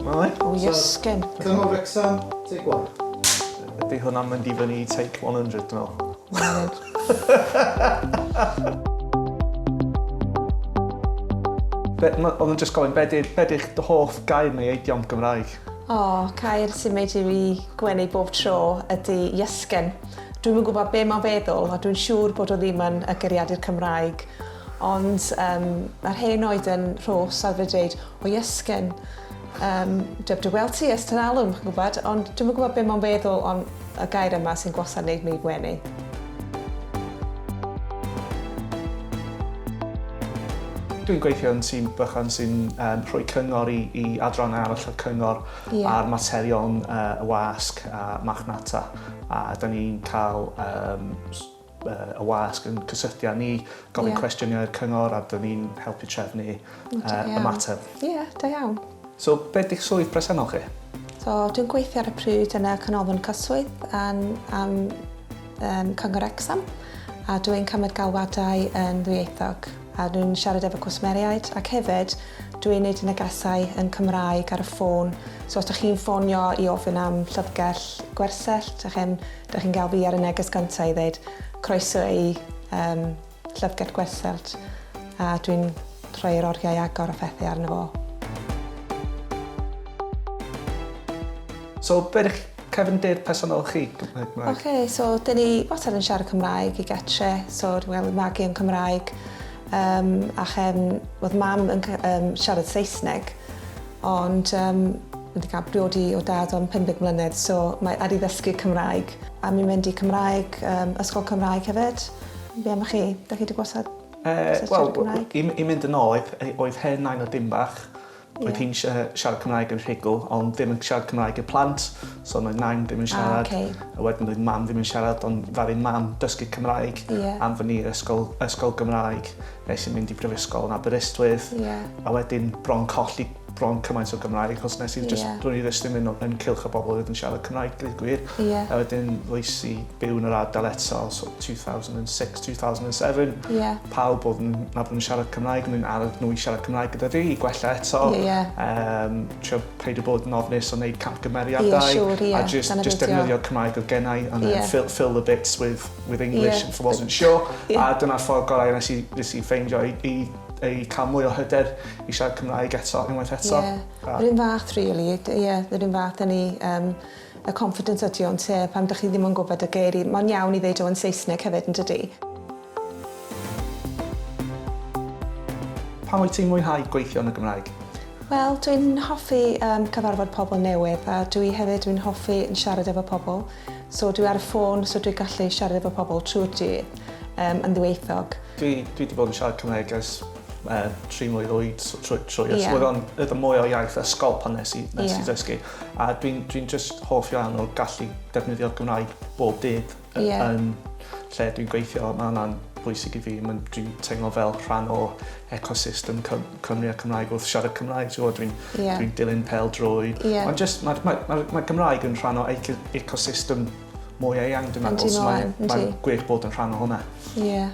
Mae e? O, iesgen. Cyngor Wrexham, take one. Ydy hwnna'n mynd i fyny i take 100, dwi'n meddwl. Oedd yn just gofyn, be di'ch dy hoff gair neu eidiom Gymraeg? O, oh, cair sy'n meid i fi gwenu bob tro ydy iesgen. Dwi'n yn gwybod be mae'n feddwl, a dwi'n siŵr bod o ddim yn y geriadur Cymraeg. Ond um, mae'r hen oed yn rhos ar fe dweud, o iesgen, um, dyb dy weld ti ystod alwm, chi'n gwybod, ond dwi'n gwybod beth mae'n feddwl ond y gair yma sy'n gwasad wneud mi gwenu. dwi'n gweithio yn tîm bychan sy'n um, rhoi cyngor i, i adran arall y cyngor yeah. ar materion uh, y wasg a machnata. A da ni'n cael um, y wasg yn cysylltu â ni, gofyn cwestiynau i'r cyngor a dyn ni'n helpu trefnu y mater. Ie, da iawn. So, beth di'ch swydd presennol chi? So, dwi'n gweithio ar y pryd yn y Canolfan Cyswllt yn, am um, Cyngor Exam a dwi'n cymryd galwadau yn ddwyieithog a dwi'n siarad efo cwsmeriaid ac hefyd dwi'n neud negesau yn Cymraeg ar y ffôn so os ydych chi'n ffonio i ofyn am llyfrgell gwersyll ydych chi'n Dych chi'n cael fi ar y neges gyntaf i ddeud croeso i um, Llyfrgell Gwersyll a dwi'n rhoi'r oriau agor a phethu arno fo. So, be ydych cefndir personol chi? Oce, okay, so dyn ni wastad yn siarad Cymraeg i getre, so dwi'n cael magu yn Cymraeg. Um, a chefn, oedd mam yn um, siarad Saesneg, Ond um, wedi cael briodi o dad am 50 mlynedd, so mae ar i ddysgu Cymraeg. A mi'n mynd i Cymraeg, um, ysgol Cymraeg hefyd. Be am chi? Da chi wedi gwasad uh, well, Cymraeg? I, I mynd yn ôl, oedd hen nain o dim bach. Oedd hi'n siarad Cymraeg yn rhigl, ond ddim yn siarad Cymraeg i'r plant. So oedd nain ddim yn siarad. Ah, okay. A wedyn oedd mam ddim yn siarad, ond ddaru mam dysgu Cymraeg yeah. am fy ni ysgol, ysgol Gymraeg nes i'n mynd i brifysgol yn Aberystwyth. Yeah. A wedyn bron colli bron cymaint o Gymraeg, achos nes i'n just, yeah. dwi'n i ddysgu mynd yn cilch o bobl oedd yn siarad Cymraeg, dwi'n gwir. Yeah. A wedyn ddoes i byw yn yr ardal eto, so 2006-2007. Yeah. pawb oedd yn nabod yn siarad Cymraeg yn mynd arall nhw i siarad Cymraeg gyda fi i gwella eto. Ie, ie. Um, trio peidio bod yn ofnus o wneud camgymeriadau. Ie, siwr, ie. A just, just defnyddio Cymraeg oedd gennau and then yeah. fill, fill the bits with, with English yeah. if I wasn't sure. Yeah. A dyna'r ffordd gorau nes i, nes i ffeindio i, i ei cael mwy o hyder i siarad Cymraeg eto, unwaith eto. Ie, yeah. yr un fath, really. Ie, yeah, yr un fath yn ni. Um, y confidence ydy o ynte pan dych chi ddim yn gwybod y geiri, mae'n iawn i ddeud o yn saesneg hefyd yndydi? Pam wyt ti'n mwynhau gweithio yn y Gymraeg? Wel dw i'n hoffi yym cyfarfod pobl newydd a dw i hefyd dwi'n hoffi yn siarad efo pobl so dw i ar y ffôn so dw i gallu siarad efo pobl trwy'r dydd yym yn ddwyieithog. Dw i dwi wedi bod yn siarad Cymraeg ers yy tri mlwydd oed so trwy trwy yeah. ysgol oedd o'n oedd o'n mwy o iaith ysgol pan nes i nes yeah. i ddysgu. A dwi'n dwi just hoff iawn o gallu defnyddio'r Gymraeg bob dydd yeah. yn lle dwi'n gweithio. Mae hwnna'n bwysig i fi. Dwi'n teimlo fel rhan o ecosystem Cymru a Cymraeg wrth siarad Cymraeg. Dwi'n yeah. dwi dilyn pel drwy. Yeah. Ond just mae ma, ma, ma Gymraeg yn rhan o ecosystem mwy eang dwi'n meddwl. Mae'n gwych bod yn rhan o hwnna. Yeah.